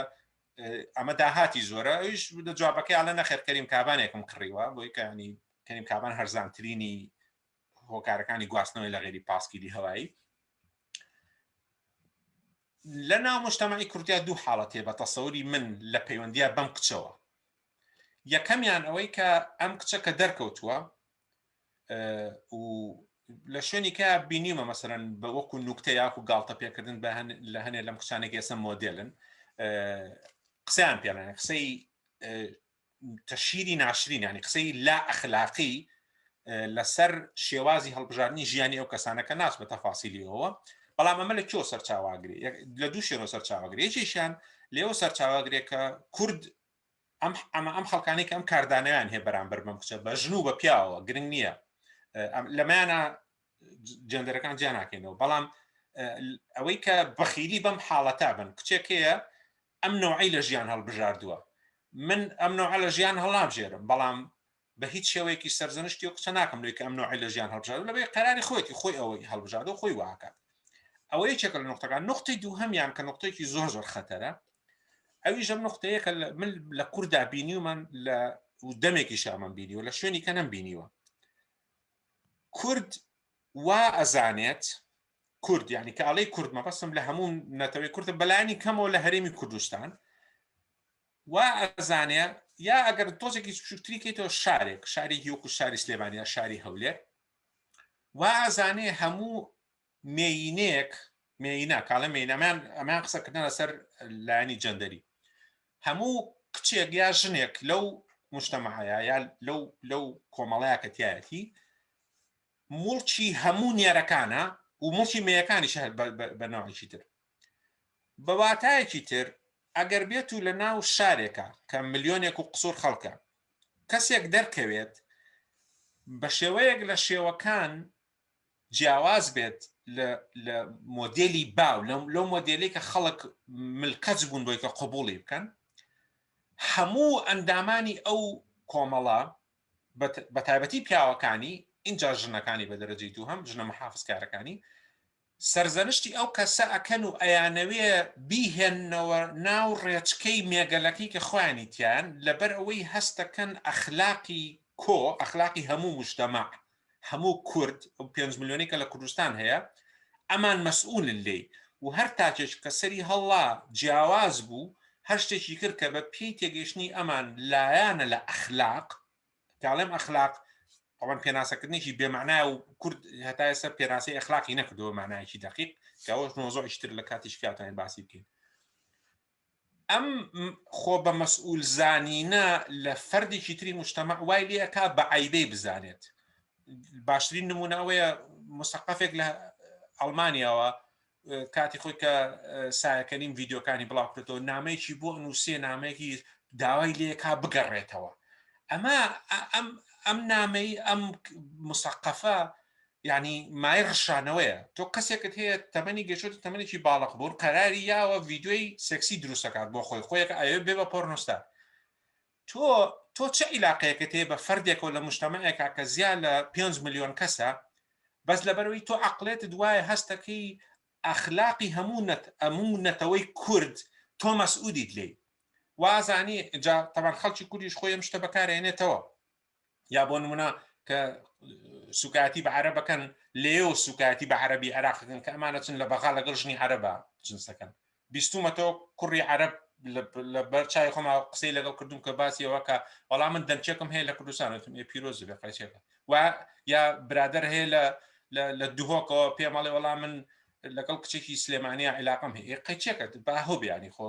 ئەمە داهاتی زۆرە ئەوش جوابەکەی ئالە نەخێرکەریم کابانێکم کڕیوە بۆی کەنی کەنیم کابان هەرزانترینی هۆکارەکانی گواستنەوەی لە غێری پاسکیلی هەوایی لە ناو مشتمەی کوردیا دوو حاڵەتێ بە تەسەوری من لە پەیوەندیە بەم کچەوە یەکەمیان ئەوەی کە ئەم کچە کە دەرکەوتووە و لە شوێنی کە بینیمە مەسەرەن بە وەکو نوکتە یاخو گاڵتە پێکردن بە لە هەنێ لەم کچانێک ئێسە مۆدلن قسەیان پێڵێن قسەی تەشهیری ناشرین یانی قسەی لا ئەخلاقی لەسەر شێوازی هەڵبژاردننی ژیانی ئەو کەسانە کە ناچ بە تەفاسیلیەوە بەڵام ئەمە لە کۆ سەرچاواگری لە دوو شێرۆ سەرچاواگری یەکێکیان لێەوە سەرچاواگرێک کە کورد ئەم ئەمە ئەم خەڵکانی کە ئەم کاردانیان هەیە بەرامبەر بم کچە بە ژن و بە پیاوە گرنگ نییە لەمانە جندەرەکان جیانناکەینەوە بەڵام ئەوەی کە بەخیلی بەم حاڵەتا بن کچێکەیە ئەم نەوعەی لە ژیان هەڵبژاردووە. من ئەم نەوعە لە ژیان هەڵنابژێرم، بەڵام بە هیچ شێوەیەکیش سەرزەنشتی ئەو کچە ناکەم لەوەی کە ئەم نەوعەی لە ژیان هەڵبژاردووە، لەوەی قەراری خۆیەتی، خۆی ئەوەی هەڵبژاردووە، خۆی وا ئەکات. ئەوە یەکێکە لە نوختەکان. نوختەی دووهەمیان کە نوختەیەکی زۆر زۆر خەتەرە، ئەویش ئەم نوختەیە کە من لە کورددا بینیومەن لە و دەمێکیش ئەمەم بینیوە، لە شوێنی کە نەمبینیوە. کورد وا ئەزانێت، کورد یعنی کە ئەڵێ کورد مەبەستم لە هەموو نەتەوەی کوردە بەلانی کەمەوە لە هەرێمی کوردستان وا ئەزانێ یا ئەگەر تۆزێکی بچووکتری کەیتەوە شارێک شاری هیوک و شاری سلێمانیا شاری هەولێ وا ئازانێ هەموو مێینێک مێینە کاڵە مێینەمان ئەمان قسەکردن لەسەر لایانی جەندەری هەموو کچێک یا ژنێک لەو مشتەمەعەیە یا لەو لەو کۆمەڵەیە کە تایەتی موڵکی هەموو نێرەکانە و موڵکی مێیەکانیش هەر بە نەوعێکی تر. بە واتایەکی تر ئەگەر بێت و لە ناو شارێکە کە ملیۆنێک و قسوور خەڵکە کەسێک دەرکەوێت بە شێوەیەک لە شێوەکان جیاواز بێت لە مۆدێلی باو لەو مۆدێلی کە خەڵک ملکەچ بوون بۆی کە قوبوڵی بکەن هەموو ئەندامانی ئەو کۆمەڵە بە تایبەتی پیاوەکانی، ئینجا ژنەکانی بە دەرەجەی دووهەم، ژنە محافزکارەکانی، سەرزەنشتی ئەو کەسە ئەکەن و ئەیانەوێ بیهێننەوە ناو ڕێچکەی مێگەلەکەی کە خۆیانی تیایەن، لەبەر ئەوەی هەست دەکەن ئەخلاقی کۆ، ئەخلاقی هەموو موجتەمەع، هەموو کورد ئەو پێنج ملیۆنەی کە لە کوردستان هەیە ئەمان مەسئولن لێی و هەر تاکێک کە سەری هەڵا جیاواز بوو هەر شتێکی کرد کە بە پێی تێگەیشتنی ئەمان لایانە لە ئەخلاق کاڵێم ئەخلاق ئەوان پێناسەکردنێکی بێمانای و کورد هەتا ئێستا پێناسی ئەخلاقی نەکردەوە مانایکی دقیق کەەوەش مۆزۆ ئیشتر لە کاتی شکاتانی باسی بکەین ئەم خۆ بە مەسئول زانینە لە فەردێکی تری مشتەمە وای لەکە بە عیبەی بزانێت باشترین نمونە ئەوەیە مستەقفێک لە ئەڵمانیاوە کاتی خۆی کە سایەکەنیم ڤیددیوکانی بڵاوکردەوە نامەیەکی بۆ نووسێ نامەیەکی داوای لێکا بگەڕێتەوە ئەمە ئەم ئەم نامەی ئەم مسەقەفە یانی مای ڕشانەوەیە تۆ کەسێکت هەیە تەمەنی گەشتە تەمەێکی باڵق بوون قەراری یاوە ڤیددیوی سێکسی دروستەکات بۆ خۆی خۆیەک ئاوێ بێ بە پۆرنووستا تۆ تۆ چ عیلاقەیەکە تێ بە فەردێکەوە لە مشتەمەەکە کە زیان لە 5 میلیۆن کەسە بەس لەبەرەوەی تۆ عقلێت دوایە هەستەکەی ئەخلاقی هەموو نەت ئەموو نەتەوەی کورد تۆ مەسعودیت لی وازانی جا تەمان خەڵکی کوردیش خۆی ئەم شتە بەکارێنێتەوە یا بۆ نمونە کە سوکایەتی بە عەرەبەکەن لێو سوکایەتی بە عەربی عراقەکەن کە ئەمانە چن لە بەغا لەگەڵ ژنی عەرەبە جنسەکەن بیستومەتەوە کوڕی عەرب لە بەر چای خۆما قسەی لەگەڵ کردوم کە باسیەوە کە وەڵام من دەمچێکم هەیە لە کوردستانتم ێ پیرۆز بێ قەچێکە و یا برادر هەیە لە لە دهۆکەوە پێمەڵێ وەڵام من لەگەڵ کچێکی سلێمانیا عیلاقم هەیە قەچێکە باهۆ بیانی خۆ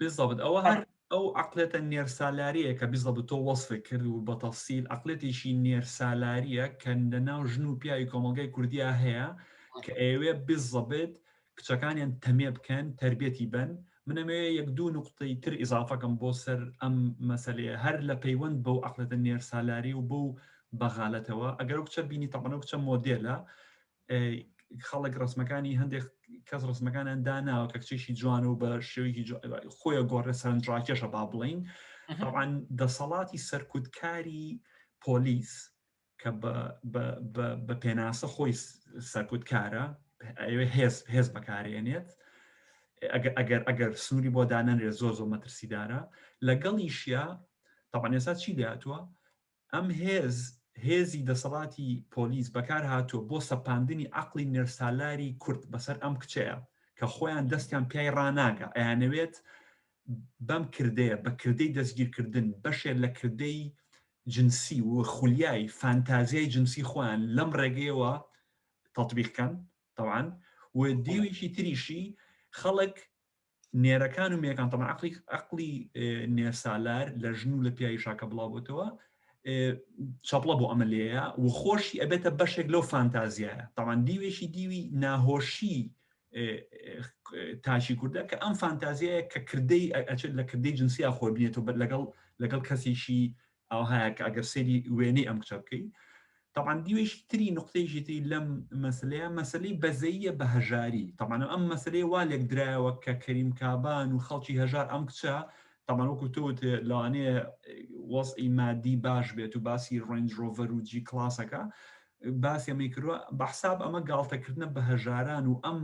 بالضبط ئەوە هەر ئەو عەقڵێتە نێرسالاریە کە بالضبط تۆ وەسفی کرد و بە تەفسیل عەقڵێتێکی نێرسالاریە کە لە ناو ژن و پیاوی کۆمەڵگای کوردیا هەیە کە ئەیەوێ بالضبط کچەکانیان تەمێ بکەن تربێتی بن من ئەمەوێ یەک دوو نقطەی تر ئیزافەکەم بۆ سەر ئەم مەسلەیە هەر لە پەیوەند بەو عەقڵێتە نێرسالاری و بەو بەغالەتەوە ئەگەر ئەو کچە بینی تەمەنە کچە مۆدێلە خەڵک ڕسمەکانی هەندێک کەس ڕسمەکانیان داناوە کە کچێکی جوانە و بە شێوەیەکی خۆیە گۆڕێ سەرنجڕاکێشە با بڵین ئەوان دەسەڵاتی سەرکوتکاری پۆلیس کە بە پێناسە خۆی سەرکوتکارە ئەوێ هێز هێز بەکارێنێت ئەگەر ئەگەر سنووری بۆ دانەنرێت زۆر زۆر مەترسیدارە لەگەڵیشە تاوانێسا چی دەاتوە ئەم هێز، هێزی دەسەڵاتی پۆلیس بەکار هاتووە بۆ سەپاندنی عەقڵی نێرسالاری کورد بەسەر ئەم کچەیە کە خۆیان دەستیان پیای ڕاناگا، ئەیانەوێت بەم کردەیە، بە کردەی دەستگیرکردن، بەشێ لە کردەی جنسی و خولیای فانتازیای جنسی خۆیان لەم ڕێگەیەوە تەتبیق کەن تەبعەن و دیوێکی تریشی خەڵک نێرەکان و مێکان تەبەن عەقڵی عەقڵی نێرسالار لە ژن و لە پیاوی شاکە بڵاوبۆتەوە چەپڵە بۆ ئەمە لێیە و خۆشی ئەبێتە بەشێک لەو فانتازیایە تاوان دیوێکی دیوی ناهۆشی تاشی کوردە کە ئەم فانتازیایە کە کردەی ئەچێت لە کردەی جنسیا خۆی بنێتەوە بەر لەگەڵ لەگەڵ کەسێکی ئاوهایە کە ئەگەر سەیری وێنەی ئەم کچە بکەی تەبان دیوێکی تری نقطەیەکی تری لەم مەسلەیە مەسلەی بەزەیە بە هەژاری تەمانە ئەم مەسلەیە وا لێک درایەوە کە کەریم کابان و خەڵکی هەژار ئەم کچە تەمان وەکو تۆت لەوانەیە وەزئی مادی باش بێت و باسی ڕنجۆڤەر و جی کلاسەکە باسی ئەمەی کردوە بەحساب ئەمە گاڵتەکردنە بە هەژاران و ئەم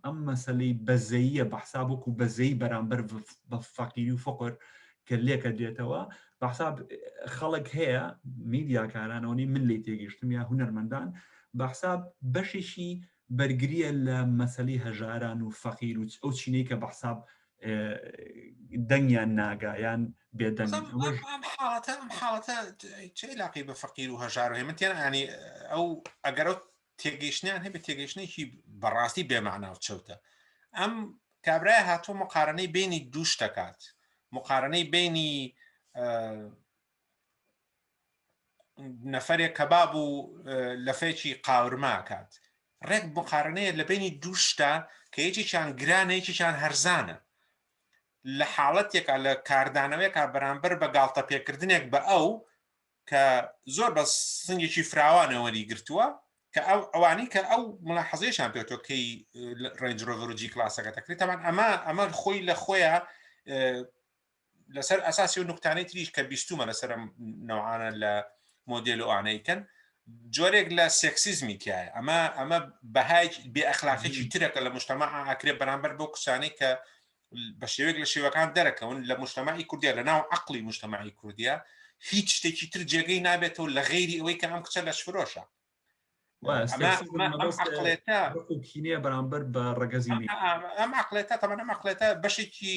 ئەم مەسلەی بەزەییە بەحساب وەکو بەزەی بەرامبەر بە فەقیری و فقر کە لێکە دێتەوە بەحساب خەڵک هەیە میدیاکارانەوەنی من لی تێگەشتم یا هوەرمەندان بەحساب بەشێکی بەرگریە لە مەسەلی هەژاران و فەقیر و ئەو چینەی کە بە حساب دەنگیان ناگا یان بێ دەنگ ئەم حاڵەتە ئەم حاڵەتە چی لاقی بە فەقیر و هەژار و هێمن تێن ئانی ئەو ئەگەر تێگەیشتیان هەبێت تێگەیشتێکی بەڕاستی بێماناو چەوتە ئەم کابرای هاتوو مقارنەی بینی دووش دەکات مقارنەی بینی نەفەرێک کەباب و لەفێکی قاورما کات ڕێک مقارنەیە لە بینی دووشتا کە یەکێکیان گرانە یەکێکیان هەرزانە لە حاڵەتێکا لە کاردانەوەیکا بەرامبەر بە گاڵتە پێکردنێک بە ئەو کە زۆر بە سنگێکی فراوانەوەری گرتووە کە ئەو ئەوانی کە ئەو مڵە حەزێشان پێێتۆ کەی ڕێنجرۆڤرجی کلاسەکە دەکرێت تامان ئەمە ئەمە خۆی لە خۆیان لەسەر ئەساسی و نقطانەی تریش کە بیستومە لەسەر ئەم نەوعانە لە مۆدێل و ئانەیکەن جۆرێک لە سێکسیزمی تایە ئەمە ئەمە بەهای بێ ئەخلاقێکی ترەکە لە مشتەما ئاکرێ بەرامبەر بۆ کسانی کە بە شێوێک لە شێوەکان دەرەکەون لە مشتەمای کوردیا لە ناو عقلی مشتەمای کوردیا هیچ شتێکی تر جێگەی نابێتەوە لە غیری ئەوەی کە ئەم کچە لەش فرۆشە کینەیە بەرامبەر بە ڕگەزی ئەم عقلێتە تەمەە مەقلێتە بەشێکی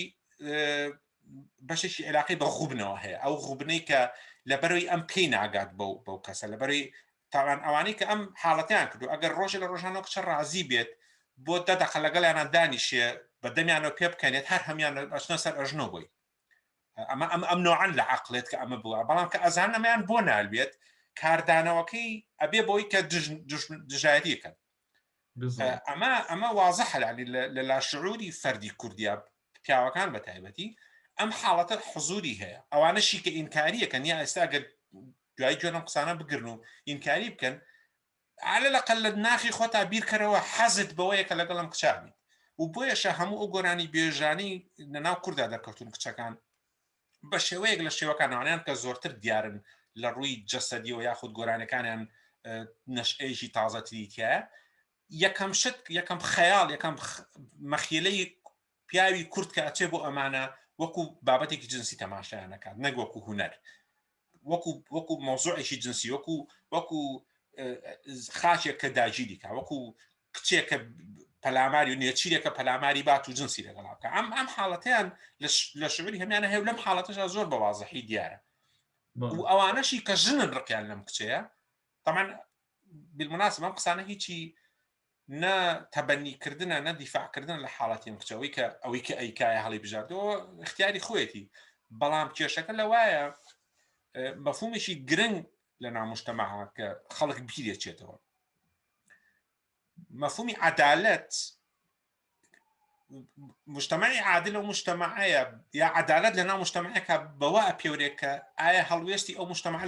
بەشێکی عێراقی بە غوبنەوە هەیە ئەو غوبنەی کە لە بەروی ئەم پێی ناگات بەو بەو کەسە لە بەروی تاوان ئەوانەی کە ئەم حاڵەتیان کردو ئەگەر ڕۆژە لە ڕۆژانەوە کچە ڕازی بێت بۆ دەدەخە لەگەڵیانە دانیشێ بە دەمیانەوە پێ بکەنێت هەر هەمیان بەچنە سەر ئەژنۆ بووی ئەمە ئەم ئەم نۆعان لە عقلێت کە ئەمە بووە بەڵام کە ئەزان ئەمەیان بۆ نالوێت کاردانەوەکەی ئەبێ بۆی کە دژایەتیەکەن ئەمە ئەمە وازە حەلالی لە لاشعوری فەردی کوردیا پیاوەکان بە تایبەتی ئەم حاڵەتە حزوری هەیە ئەوانەشی کە ئینکاریەکەن یا ئێستا گەر دوای جۆنم قسانە بگرن و ئینکاری بکەن عەلە لەقەل لە ناخی خۆتا بیرکەرەوە حەزت بەوەیە کە لەگەڵ ئەم کچە بیت و بۆیەشە هەموو ئەو گۆرانی بێژانەی لە ناو کوردا دەرکەوتوون کچەکان بە شێوەیەک لە شێوەکان ئەوانیان کە زۆرتر دیارن لە ڕووی جەسەدیەوە یاخود گۆرانەکانیان نەشئەیەکی تازەتری تایە یەکەم شت یەکەم خەیاڵ یەکەم مەخیلەی پیاوی کورد کە ئەچێ بۆ ئەمانە وەکو بابەتێکی جنسی تەماشایان نەکات نەک وەکو هوەر وەکو وەکو مۆزۆعێکی جنسی وەکو وەکو خاچێک کە داگیری کا وەکو کچێکە پەلاماری و نێچیرێکە پەلاماری بات و جنسی لەگەڵا بکە ئەم ئەم حاڵەتیان لە شعری هەمیانە هەیە لەم حاڵەتەشا زۆر بە وازەحی دیارە و ئەوانەشی کە ژنن ڕقیان لەم کچەیە تەمان بالمناسب ئەم قسانە هیچی نە تەبەنی کردنە نە دیفاع کردن لە حاڵەتی ئەم کچە ئەوەی کە ئەوەی کە ئەیکایە هەڵی بژاردەوە اختیاری خۆیەتی بەڵام کێشەکە لەوایە مەفهومێکی گرنگ لە نامشتەمەها کە خەڵک بیرێچێتەوە مەفهومی عدالەت مشتمەی عادل و مشتمەعەیە یا عدالت لە ناو مشتمەکە بەوە ئەپێورێک کە ئایا هەڵوێستی ئەو مشتمە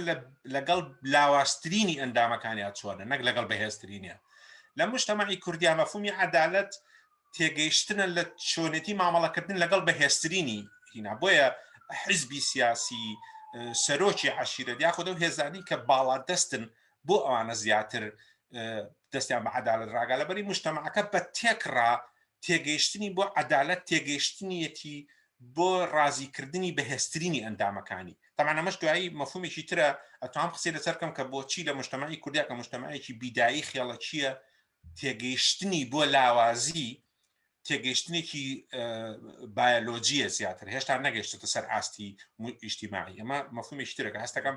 لەگەڵ لاواسترینی ئەندامەکانیان چۆنە نەک لەگەڵ بەهێزترینە لە مشتمەی کوردیا مەفومی عدالت تێگەیشتنە لە چۆنێتی مامەڵەکردن لەگەڵ بەهێزترینی هینا بۆیە حزبی سیاسی سەرۆکی عشیرە یاخود و هێزانی کە باڵا دەستن بۆ ئەوانە زیاتر دەستیان بە عدالت ڕاگا لەبەری مشتەماکە بە تێکڕا تێگەیشتنی بۆ عدالت تێگەیشتنیەتی بۆ ڕازیکردنی بەهێسترینی ئەندامەکانی تەمان ئەمەش دوایی مەفهومێکی ترە ئەتوان قسەی لەسەر کەم کە بۆچی لە مشتمەی کوردیا کە مشتمەیەکی بیدایی خێڵەکیە تێگەیشتنی بۆ لاوازی تێگەیشتنێکی بایۆلۆجیە زیاتر هێشتا نەگەشتە سەر ئاستی ئیشتیماعی ئەمە مەفهومێکی ترەکە هەستەکەم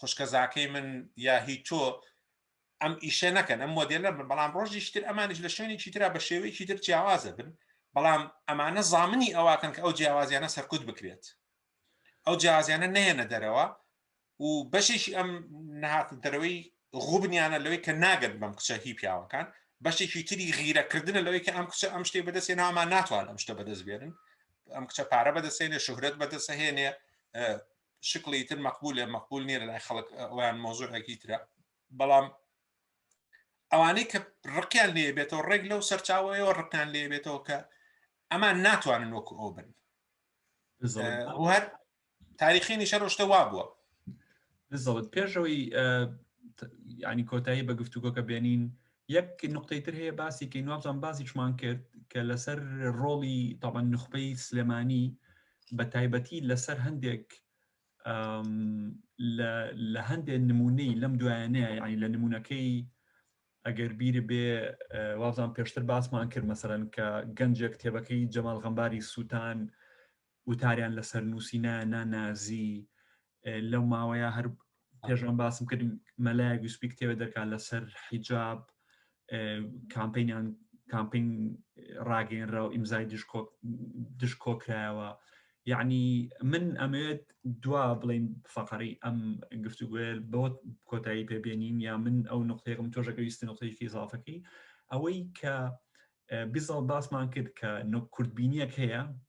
خوشکە زاکەی من یا هی تۆ ئەم ئیشە نەکەن ئەم مۆدێلە بن بەڵام ڕۆژیش تر ئەمانش لە شوێنێکی تررا بە شێوەیەکی تر جیاوازە بن بەڵام ئەمانە زامنی ئەوواکەن کە ئەو جیاوازیانە سەرکوت بکرێت ئەو جیازیانە نێنە دەرەوە و بەشێکی ئەم نهاتن دەرەوەی غوبنیانە لەوەی کە ناگەن بەم کچە هی پیاوەکان بەشێکی تری غیرەکردنە لەوەی کە ئەم کچە ئەم شتێ بەدەستێ نامان ناتوان ئەم شتە بەدەست بێنن ئەم کچە پارە بەدەسێنێ شهرت بەدەسەهێنێ شکڵی تر مەقبولە مەقبول نیە لەلای خەڵک ئەویان مۆزوعێکی ترە بەڵام ئەوانەی کە ڕقیان لێ بێتەوە ڕێک لەو سەرچاوەیەوە ڕقیان لێ بێتەوە کە ئەمان ناتوانن وەکو ئەو بن هەر تاریخی نیشە ڕۆشتە وا بووە بزڵت پێشەوەی ینی کۆتایی بە گفتوگۆکە بێنین یەک نوقتەی تر هەیە باسی کەین وابزان باسیشمان کرد کە لەسەر ڕۆڵی تاوان نخبەی سلێمانی بە تایبەتی لەسەر هەندێک لە هەندێک نمونەی لەم دوایانەیە یعنی لە نمونونەکەی ئەگەر بیر بێ وابزان پێشتر باسمان کرد مەسەرەن کە گەنجێک تێبەکەی جەمال غەمباری سووتان وتاریان لەسەر نووسی نا نا نازی لەو ماوەیە هەر پێشان باسم کرد مەلای گوسپی کتێوە دەکات لەسەر حیجاب کامپینیان کامپین ڕاگەێنرا و ئیمزای دژ کۆکرایەوە یعنی من ئەمەوێت دوا بڵین فقڕی ئەم گفتوگوێر بۆ کۆتایی پێبێنین یا من ئەو نقطەیەکم تۆژەکەویستی نقطەیەکی زافەکەی ئەوەی کە بیزڵ باسمان کرد کە نۆ کوردبینیەک هەیە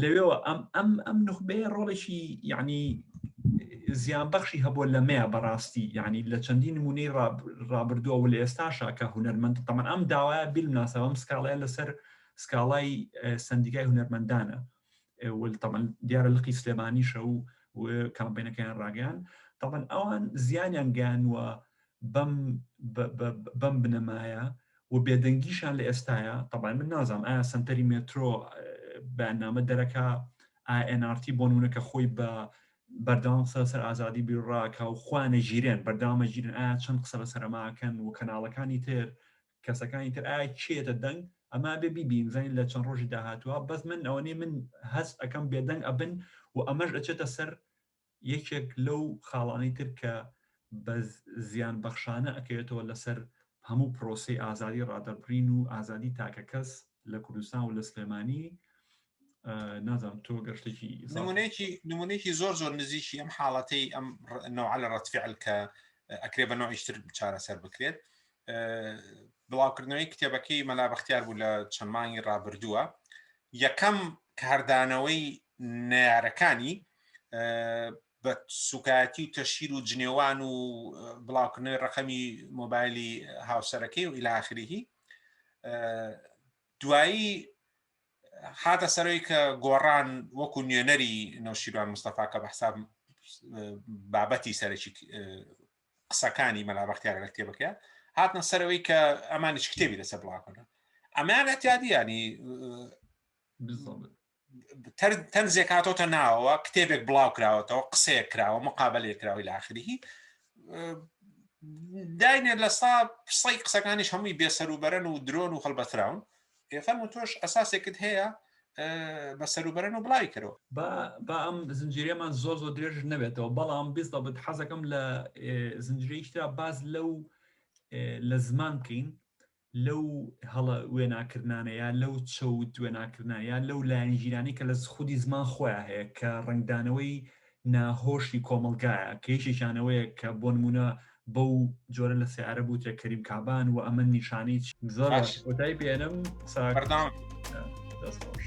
لەوێەوە ئەم ئەم ئەم نخبەیە ڕۆڵێکی یعنی زیان بەخشی هەبوو لە مەیە بەڕاستی یعنی لە چەندین نمونەی ڕابردووە و لە ئێستاشا کە هوەرمەند تەمان ئەم داوایە بیلناسە ئەم سکاڵەیە لەسەر سکاڵای سندیکای هوەرمەندانە تەمان دیارە لقی سلێمانیشە و کامپینەکەیان ڕاگەیان تەمان ئەوان زیانیان گەیانوە بەم بەم بنەمایە و بێدەنگیشان لە ئێستاە تەبای من نازانم ئایا سنتەری مێترۆ بەنامە دەرەکە ئاNRT بۆ نونەکە خۆی بە بەرداوام قسە سەر ئازادی بیڕاکە و خوانە ژیرێن بەردامە ژیرن ئایا چەند قسە لە سەرماکەن و کەناڵەکانی تر کەسەکانی تر ئایا چێتە دەنگ ئەما بێ بیبین زین لە چەند ڕۆژی داهاتوە بەس من ئەوەی من هەست ئەەکەم بێدەنگ ئەبن و ئەمەش ئەچێتە سەر یەکێک لەو خاڵانەی تر کە بە زیان بەخشانە ئەکەوێتەوە لەسەر هەموو پرۆسەی ئازادی ڕادەربڕین و ئازادی تاکەکەس لە کوردستان و لە سلێمانی نازانم تۆ گەر شتێکی نمونەیەکی نمونەیەکی زۆر زۆر نزیکی ئەم حاڵەتەی ئەم نەوعە لە ڕەتفعل کە ئەکرێ بە نوعیشتر چارەسەر بکرێت بڵاوکردنەوەی کتێبەکەی مەلا بەختیار بوو لە چەند مانگی ڕابردووە یەکەم کاردانەوەی نارەکانی بە سوکایەتی و تەشیر و جنێوان و بڵاوکردنەوەی ڕقەمی مۆبایلی هاوسەرەکەی و ئیلاخریهی دوایی هاتە سەرۆی کە گۆڕان وەکو نوێنەری نەوشیروان مستەفا کە بە حساب بابەتی سەرەکی قسەکانی مەلا بەختیارە لە کتێبەکەیە هاتنە سەرەوەی کە ئەمانیش کتێبی لەسەر بڵاکەنە ئەمان ئەتیادیانی تەن زێکاتۆتە ناوەوە کتێبێک بڵاو کراوەتەوە قسەیە کراوە مقابلێ کراوی لاخریهی داینێ لە سا قسەی قسەکانیش هەمووی بێسەر و بەرەن و درۆن و هەڵبەتراون ئێفەم و تۆش ئەساسێکت هەیە بە سەروبەرن و بڵاوی کەرەوە با ئەم زنجیرێمان زۆر زۆر درێژ نەبێتەوە بەڵام بیست دەبت حەزەکەم لە زنجیرەیشترا باز لەو لە زمان بکەین لەو هەڵە وێناکردانەیە لەو چەوت وێناکردانە لەو لایەنگیرانی کە لە خودی زمان خۆیان هەیە کە ڕنگدانەوەی ناهۆشی کۆمەڵگایە کە یەکێکیان ئەوەیە کە بۆ نموونە بەو جۆرە لە سەیارە بوترێ کەریم کابان و ئەمە نیشانەی زۆر باش کۆتای پێێنم ساکردان دەست خۆش